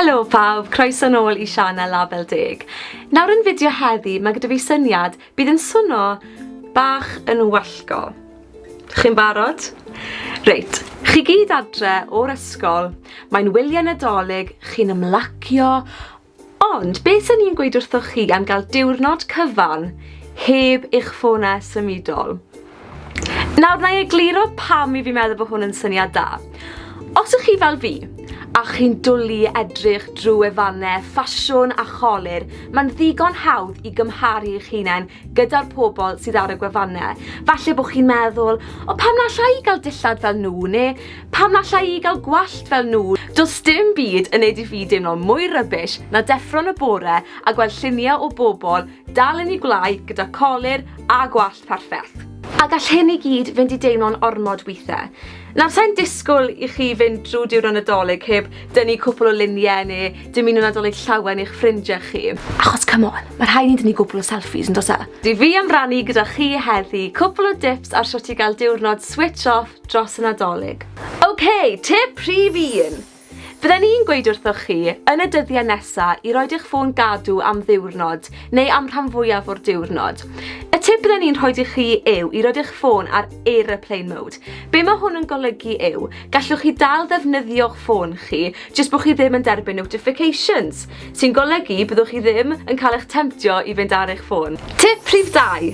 Helo pawb, croeso nôl i sianel Label Deg. Nawr yn fideo heddi, mae gyda fi syniad bydd yn swno bach yn wallgo. Chi'n barod? Reit, chi gyd adre o'r ysgol, mae'n wyliau nadolig, chi'n ymlacio, ond beth sy'n ni'n gweud wrthoch chi am gael diwrnod cyfan heb eich ffona symudol? Nawr, na i egluro pam i fi meddwl bod hwn yn syniad da. Os ych chi fel fi, a chi'n dwlu i edrych drwy wefannau ffasiwn a cholur, mae'n ddigon hawdd i gymharu eich hunain gyda'r pobl sydd ar y gwefannau. Falle bod chi'n meddwl, o pam na allai i gael dillad fel nhw, neu pam na allai i gael gwallt fel nhw. Does dim byd yn neud i fi deimlo mwy rubbish na deffro yn y bore a gweld lluniau o bobl dal yn eu gwlâu gyda colur a gwallt Perffaith. A gall hyn i gyd fynd i deimlo'n ormod withe. Nawr, sa'n disgwyl i chi fynd drwy diwrnod Nadolig heb dynnu cwpl o luniau neu dymuno Nadolig llawen i'ch ffrindiau chi. Achos come on, mae rhai ni'n dynnu gwbl o selfies yn dos e? Dw fi am rannu gyda chi heddi cwpl o dips ar shwt i gael diwrnod switch off dros y Nadolig. Ok, tip rhif un! Fydden i'n gweud wrthoch chi, yn y dyddiau nesa, i roed eich ffôn gadw am ddiwrnod, neu am rhan fwyaf o'r diwrnod. Y tip bydden i'n rhoi i chi yw i roed eich ffôn ar aeroplane mode. Be mae hwn yn golygu yw, gallwch chi dal ddefnyddio'ch ffôn chi, jyst bod chi ddim yn derbyn notifications, sy'n golygu byddwch chi ddim yn cael eich temtio i fynd ar eich ffôn. Tip rhif dau.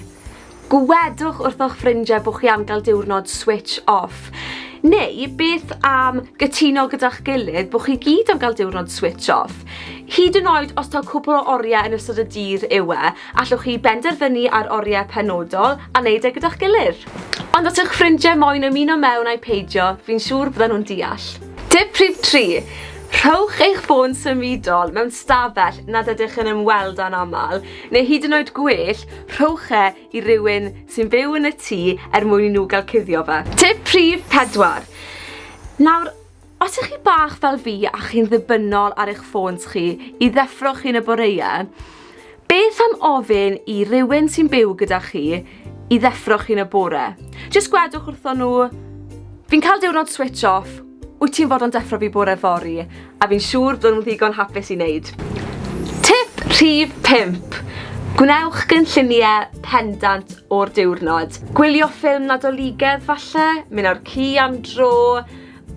Gwedwch wrtho'ch ffrindiau bod chi am gael diwrnod switch off. Neu beth am gytuno gyda'ch gilydd bod chi gyd am gael diwrnod switch off? Hyd yn oed os taw cwpl o oriau yn ystod y dydd yw e, allwch chi benderfynu ar oriau penodol a wneud e gyda'ch gilydd. Ond os yw'ch ffrindiau moyn ymuno mewn ai peidio, fi'n siŵr byddan nhw'n deall. Tip rhif tri, Rhowch eich ffôn symudol mewn stafell nad ydych yn ymweld â'n aml. Neu hyd yn oed gwell, rhowch e i rywun sy'n byw yn y tŷ er mwyn i nhw gael cuddio fe. Tip rhif pedwar. Nawr, os ych chi bach fel fi a chi'n ddibynnol ar eich ffôns chi i ddeffro chi yn y boreau, beth am ofyn i rywun sy'n byw gyda chi i ddeffro chi yn y bore. Jyst gwedwch wrthon nhw, fi'n cael diwrnod switch off, wyt ti'n fod yn deffro fi bore fori, a fi'n siŵr bod nhw'n ddigon hapus i wneud. Tip rhif 5. Gwnewch gynlluniau pendant o'r diwrnod. Gwylio ffilm Nadoligedd falle, mynd ar ci am dro,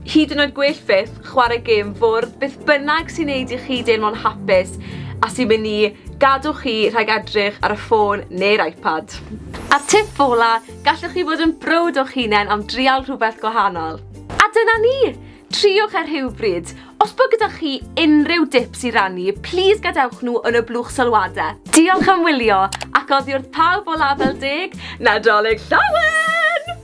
Hyd yn oed gwell fyth, chwarae gêm fwrdd, beth bynnag sy'n neud i chi deimlo'n hapus a sy'n mynd i gadw chi rhag edrych ar y ffôn neu'r iPad. A'r tip ola, gallwch chi fod yn browd o'ch hunen am drial rhywbeth gwahanol. A dyna ni! Triwch e rhywbryd! Os bod gyda chi unrhyw dips i rannu, plîs gadewch nhw yn y blwch sylwadau. Diolch am wylio, ac oddi wrth pawb o Label Deg, Nadolig Llawen!